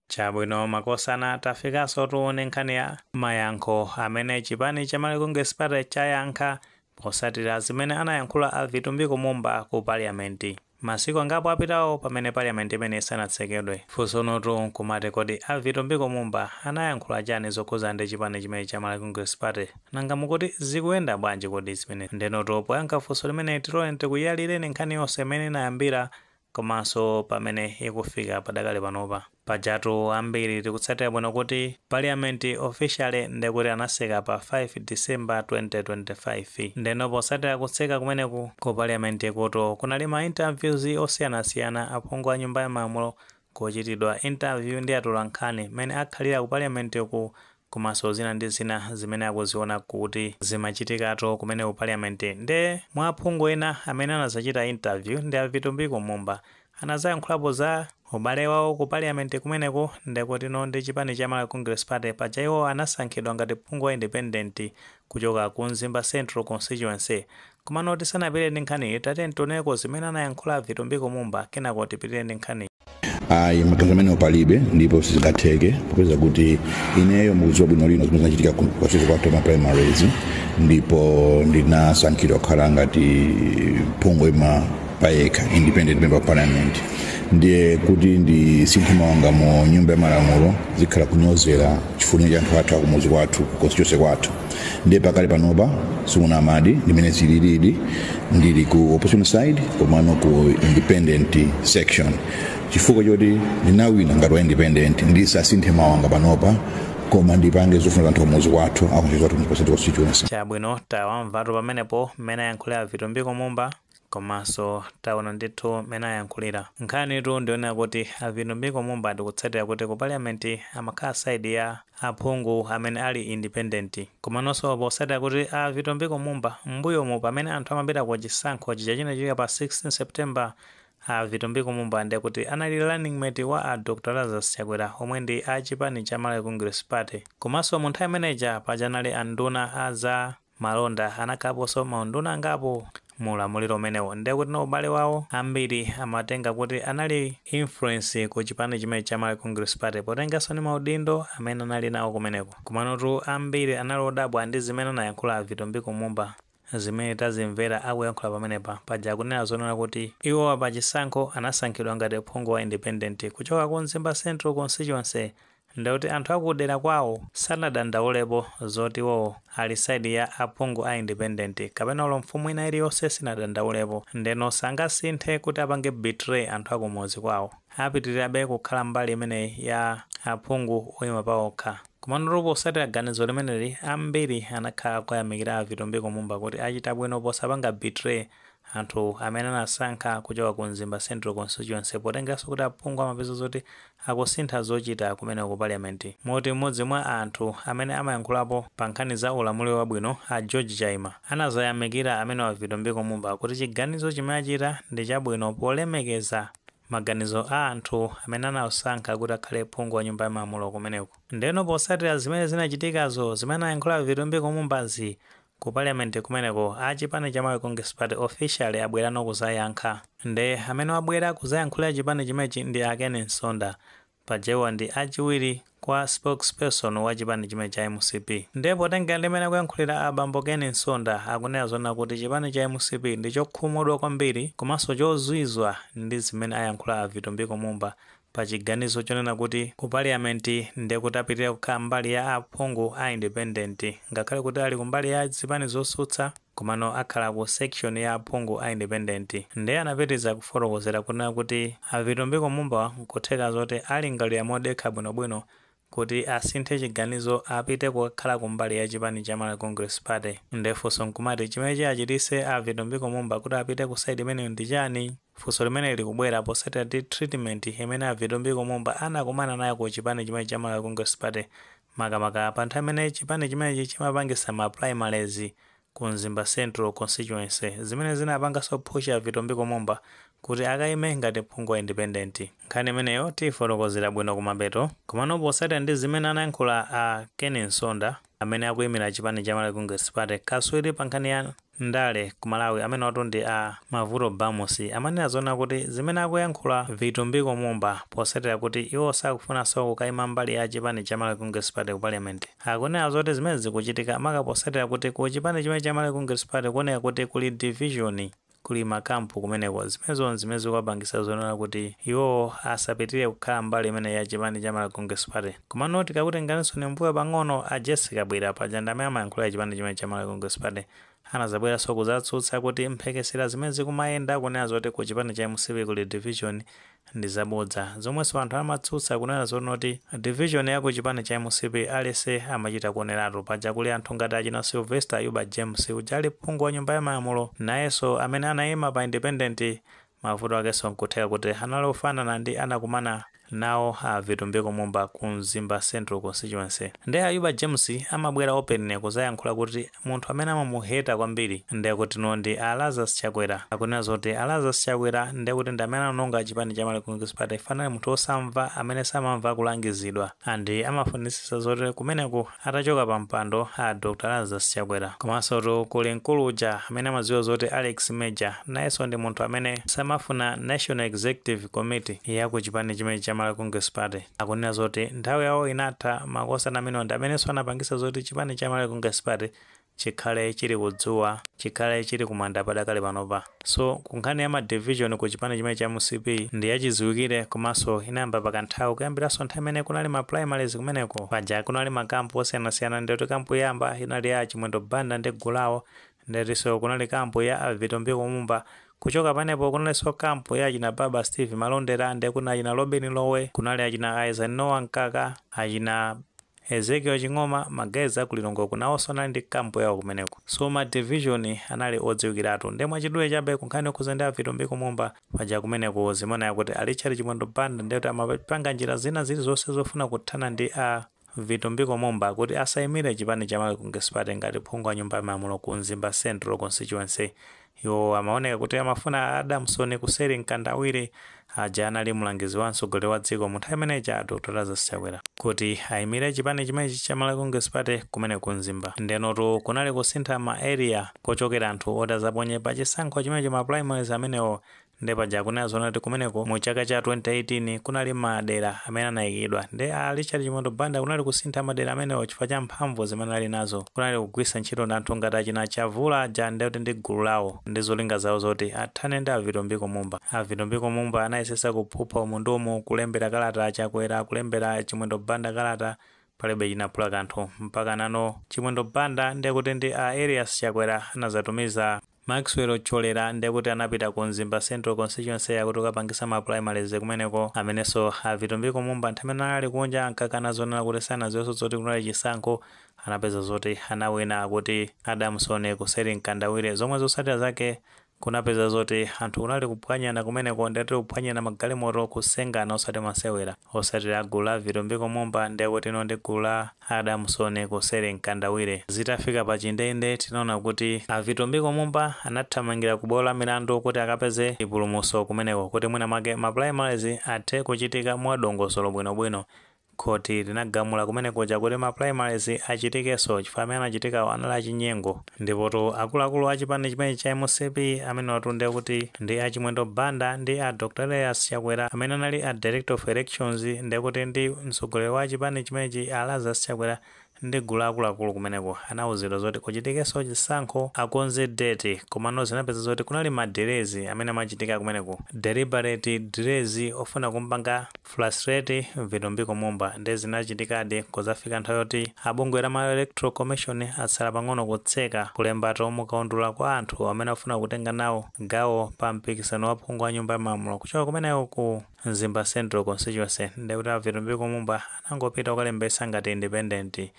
Chabwino makosana tafikanso tione nkhani ya mayankho amene chipani cha Malawi Congress Party chayankha posatira zimene anayankhula a Vitumbiko Mumba ku parliament masiku angapo apitawo pamene parliament imeneyi isanatsekedwe. Funsonotu nkumati kodi a Vitumbiko Mumba anayankhula chani zokhudza ndi chipani chimenechi cha Malawi Congress Party? Nanga mukuti zikuyenda bwanji kodi zimenezi? Ndenotu poyankha funso limeneli tiloleni tikuyalireni nkhani yonse mmene inayambira komanso pamene ikufika padakali panopa. Pajatu ambiri tikutsatira bwino kuti Parliament officially nde kuti anatseka pa 5 December 2025. Ndeno potsatira kutseka kumeneku, ku Parliament kutu kunali ma interviews osiyanasiyana aphungu a Nyumba ya Malamulo kuchitidwa interview ndi atolankhani mmene akhalira ku Parliament ku komanso zina ndi zina zimene akuziona kuti zimachitikato kumene ku parliament nde mwa aphungu ena amene anazachita interview ndi a Vitumbiko Mumba anazayankhulapo za ubale wawo ku parliament kumeneko ndekutino ndi chipani cha Malawi Congress Party paja iwo anasankhidwa ngati phungu wa independent kuchoka ku Mzimba Central Constituency Komano tisanapitire ndi nkhaniyi, tatiyeni tioneko zimene anayankhula Vitumbiko Mumba kenako tipitire ndi nkhaniyi. ayi maganizo amenewo palibe ndipo sizingatheke popeza kuti ineyo mukudziwa bwino lino zimene zinachitika ku- kwathu kwa ma primaries ndipo ndinasankhidwa kukhala ngati phungu woima payekha independent member of parliament ndiye kuti ndisinthe mawanga mu nyumba ya malamulo zikhala kunyozera chifuniro cha anthu athu akumuzi kwathu ku constituency kwathu ndiye pakali panopa sikunama di ndimene zililidi ndili ku opposition side komano ku independent section chifukwa choti ndinawina ngati wa independent ndisasinthe mawanga panopa koma ndipange zofuna za anthu akumuzi kwathu aku Mzimba Central constituency chabwino tawamvatu pamenepo mmene ayankhulira vitumbiko mumba Komanso taona ndithu mmene ayankhulira. Nkhanitu ndiyonena kuti a Vitumbiko Mumba tikutsatira kuti ku parliament amakhala side ya aphungu amene ali independent. Komanonso potsatira kuti a Vitumbiko Mumba mmbuyomu pamene anthu amapita ku chisankho chija chinachitika pa 16 September a Vitumbiko Mumba ndiye kuti anali running mate wa a Dr Lazarus Chakwera omwe ndi a chipani cha Malawi Congress Party. Komanso mu nthawi imene ija paja anali a nduna a za malonda anakhalaponso maunduna angapo mu ulamuliro umenewo ndiye kutino ubale wawo ambiri amatenga kuti anali influence ku chipani chimene cha Malawi Congress Party potenganso ndi maudindo amene anali nawo kumeneko komanotu ambiri anali odabwa ndi zimene anayankhula a Vitumbiko Mumba zimene tazimvera akuyankhula pamenepa paja akunena zonena kuti iwowa pa chisankho anasankhidwa ngati phungu wa independent kuchoka ku Mzimba Central Constituency Ndekuti anthu akudera kwawo sanadandaulepo zoti iwowo ali side ya aphungu a independent kapena olo mfumu ina iliyonse sinadandaulepo ndeno sangasinthe kuti apange betray anthu akumuzi kwawo. Apitilirabe kukhala mbali imeneyi ya aphungu oyima paokha. Komanotu posatira ganizo limeneli ambiri anakhala akuyamikira a Vitumbiko Mumba kuti achita bwino posapanga betray Anthu amene anasankha kuchoka ku Mzimba Central Constituency potengeraso kuti aphungu amapeza zoti akusintha zochita kumeneko ku Parliament moti m'modzi mwa anthu amene amayankhulapo pa nkhani za ulamuliro wabwino a George Chaima anazayamikira amenewa Vitumbiko Mumba kuti chiganizo chimene achita ndi chabwino polemekeza maganizo a anthu amene anawasankha kuti akhale phungu wa nyumba ya malamulo kumeneko. Ndeno posatira zimene zinachitikazo zimene anayankhula Vitumbiko Mumbazi Ku parliament kumeneko a chipani cha Malawi Congress Party officially abwerano kuzayankha. Nde amene wabwera kuzayankhulira chipani chimenechi ndi a Ken Msonda. Paja iwo ndi a chiwiri kwa spokesperson wa chipani chimene cha mcp. Nde potengera ndi mmene akuyankhulira a bambo Ken Msonda akunena zonena kuti chipani cha mcp ndi chokhumudwa kwambiri komanso chozwizwa ndi zimene ayankhula a Vitumbiko Mumba pa chiganizo chonena kuti ku parliament nde kuti apitilira kukhala mbali ya aphungu a independent ngakhale kuti ali ku mbali ya zipani zosutsa komano akhala ku section ya aphungu a independent nde anapitiriza kufotokozera kunena kuti a Vitumbiko Mumba nkutheka zoti alingalire modekha bwinobwino kuti asinthe chiganizo apite kukakhala kumbali ya chipani cha Malawi Congress Party. Nde funso nkumati chimene chiachitise a Vitumbiko Mumba kuti apite ku side imeneyo ndi chani? Funso limeneli likubwera posatira ndi treatment imene a Vitumbiko Mumba anakumana nayo ku chipani chimenechi cha Malawi Congress Party makamaka pa nthawi imene chipani chimenechi chimapangisa ma primaries ku Mzimba Central Constituency zimene zinapangaso phusha Vitumbiko Mumba kuti akaime ngati phungu wa independent. Nkhani imeneyo tiyifotokozera bwino kumapeto. Komano potsatira ndi zimene anayankhula a Ken Msonda amene akuyimira chipani cha Malawi Congress Party, kaswiri pa nkhani ya ndale ku Malawi amenewatu ndi a Mavuto Bamusi amanena zonena kuti zimene akuyankhula Vitumbiko Mumba potsatira kuti iwo sakufunaso kukaima mbali ya chipani cha Malawi Congress Party ku Parliament, Akunena zoti zimenezi zikuchitika maka posatira kuti ku chipani chimene cha Malawi Congress Party kuoneka kuti kuli division, kuli ma camp kumeneko, zimenezo nzimene zikuwapangisa zonena kuti iwowo asapitilire kukhala mbali imeneyi ya chipani cha Malawi Congress Party. Komano tikakutenganisoni mbuyo pang'ono, a Jessie Kabwila, paja ndi amene amayankhulira chipani chimenechi cha Malawi Congress Party, anazabweranso kuzatsutsa kuti mphekesera zimene zikumayenda kunena zoti ku chipani cha mcp kuli division, ndizabodza zomweso anthu amatsutsa kunena zonoti division ya ku chipani cha mcp aliyese amachita kuonelatu paja kuli anthu ngati achina Sylvester Ayuba James uja ali phungu wa nyumba ya malamulo nayeso amene anaima pa independent mavuto akeso nkutheka kuti anali ofanana ndi anakumana nawo a Vitumbiko Mumba ku Mzimba Central Constituency nde Ayuba James amabwera openly kuzayankhula kuti Munthu amene amamuheta kwambiri ndekuti no ndi a Lazarus Chakwera. Akunena zoti a Lazarus Chakwera ndekuti ndi amene anawononga chipani cha Malawi Congress Party chifukwa anali munthu osamva amene samamva kulangizidwa and amafunitsitsa zoti kumeneku atachoka pa mpando a Dr Lazarus Chakwera. Komansotu kuli mkulu uja amene amadziwa zoti Alex Major nayenso ndi munthu amene samafuna National Executive Committee ya ku chipani chimenechi cha Malawi Congress Party. akunena zoti nthawi yawo inatha, makosana amenewa ndi amenenso anapangitsa zoti chipani cha Malawi Congress Party chikhale chili ku dzuwa, chikhale chili ku manda padakali panopa. So ku nkhani ya ma division ku chipani chimenechi cha mcp ndi yachidziwikire komanso inayamba pa kanthawi kuyambiranso nthawi imene kunali ma primaries kumeneko paja kunali ma camp osiyanasiyana ndikuti camp yoyamba inali ya a Chimwendo Banda ndi gulu lawo Ndetiso kunali camp ya a Vitumbiko Mumba, kuchoka panepo kunaliso camp ya achina Baba Steve Malondera nde kuna achina Lobin Lowe, kunali achina Eisenhower Mkaka, achina Ezekiel Ching'oma, ma guys aku Lilongweko nawoso anali ndi camp yawo kumeneko. So ma division anali odziwikiratu nde mwachidule chabe kunkhani yokhuza ndi a Vitumbiko Mumba, paja kumeneko zimanena kuti a Richard Chimwendo Banda ndekuti amapanga njira zina zilizose zofuna kuthana ndi a. Vitumbiko Mumba kuti asaimire chipani cha Malawi Congress Party ngati phungu wa nyumba ya malamulo ku Mzimba Central Constituency. Iwo amaoneka kuti amafuna a Adamson Kuseri Mkandawire, aja anali mlangizi wa mtsogoleri wa dziko mu nthawi imene ija a Dr Lazarus Chakwera, kuti aimire chipani chimenechi cha Malawi Congress Party kumene ku Mzimba. Ndenotu kunali kusintha ma area kochokera anthu oti azaponye pa chisankho chimenechi ma primaries amenewo Nde paja akunena zoona kuti kumeneko mu chaka cha 2018 kunali ma dera amene anaikidwa nde a Richard Chimwendo Banda kunali kusintha ma dera amenewo chifukwa cha mphamvu zimene ali nazo. Kunali kugwiritsa ntchito ndi anthu ngati achina Chavula aja nde kuti ndi gulu lawo ndi zolinga zawo zoti athane ndi a Vitumbiko Mumba. A Vitumbiko Mumba anayesesa kuphupha umu ndi umu kulembera kalata a Chakwera, kulembera Chimwendo Banda kalata palibe chinaphula kanthu mpaka nano Chimwendo Banda nde kuti ndi a Elias Chakwera anazatumiza Maxwell Thyolera nde kuti anapita ku Mzimba Central Constituency yakuti kukapangisa ma primaries kumeneko, amenenso a Vitumbiko Mumba nthawi imene anali kunja ankakana zonena kuti sanaziwenso zoti kunali chisankho, anapeza zoti anawina akuti Adamson Kuseri Mkandawire zomwe zotsatira zake kunapeza zoti anthu kunali kuphwanyana kumeneko ndekuti kuphwanyirana magalimoto kusengana osati masewera. osati la gulu la vitumbiko mumba nde kuti ndi gulu la adamson kuseri mkandawire zitafika pa chindende tinaona kuti a vitumbiko mumba anathamangira ku bwalo la milandu kuti akapeze chipulumutso kumeneko kuti mwina mwake ma primaries athe kuchitika mwa dongosolo bwino bwino khoti linagamula kumene kuja kuti ma primaries achitikenso chifukwa amene anachitikawo anali achinyengo Ndipotu akuluakulu a chipani chimenechi cha mcp amenewatu ndiye kuti ndi a Chimwendo Banda ndi a Dr Elias Chakwera amene anali a Director of Elections ndiye kuti ndi mtsogoleri wa chipani chimenechi a Lazarus Chakwera ndi gulu la akuluakulu kumeneko anauzidwa zoti kuchitikenso chisankho akonze date komano zinapeza zoti kunali ma delays amene amachitika kumeneko, deliberate delays, ofuna kumpanga Frustrate Vitumbiko Mumba nde zinachitikadi nkuzafika nthawi yoti a bungwe la Malawi Electoral Commission atsala pang'ono kutseka kulembetsatu mu kaundula kwa anthu amene afuna kutenga nawo gawo pa mpikisano wa phungu wa nyumba ya malamulo kuchoka kumeneko ku Mzimba Central Constituency ndekuti a Vitumbiko Mumba anangopita kukalembetsa ngati independent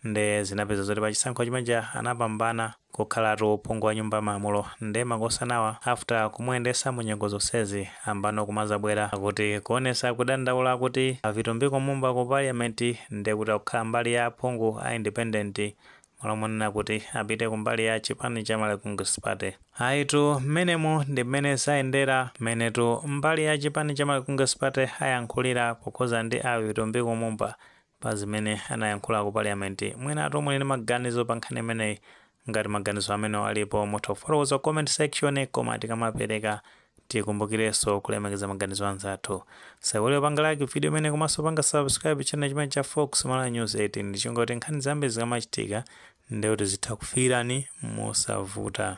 nde zinapeza zoti pachisankho chimene chija anapambana kukhalatu phungu wa nyumba ya malamulo nde makosana awa after kumuyendesa munyengo zonsezi pano kumazabwera akuti kuonesa kudandaula akuti a vitumbiko mumba ku parliament ndekuti akukhala mbali ya aphungu a independent malo monena kuti apite kumbali ya chipani cha Malawi Congress Party. Ayitu mmenemu ndi mmene zayendera mmenetu mbali ya chipani cha Malawi Congress Party ayankhulira pokhuza ndi a vitumbiko mumba pa zimene anayankhula ku parliament. Mwinatu muli ndi maganizo pa nkhani imeneyi? Ngati maganizo amenewo alipo mutha kufotokoza ku comment section koma tikamapereka tikumbukirenso kulemekeza maganizo a anzathu. Musaiwale kupanga like video imeneyi komanso kupanga subscribe channel chimenechi cha Fox Malawi News 18 ndi cholinga choti nkhani zambiri zikamachitika ndiye kuti zitha kukufikirani mosavuta.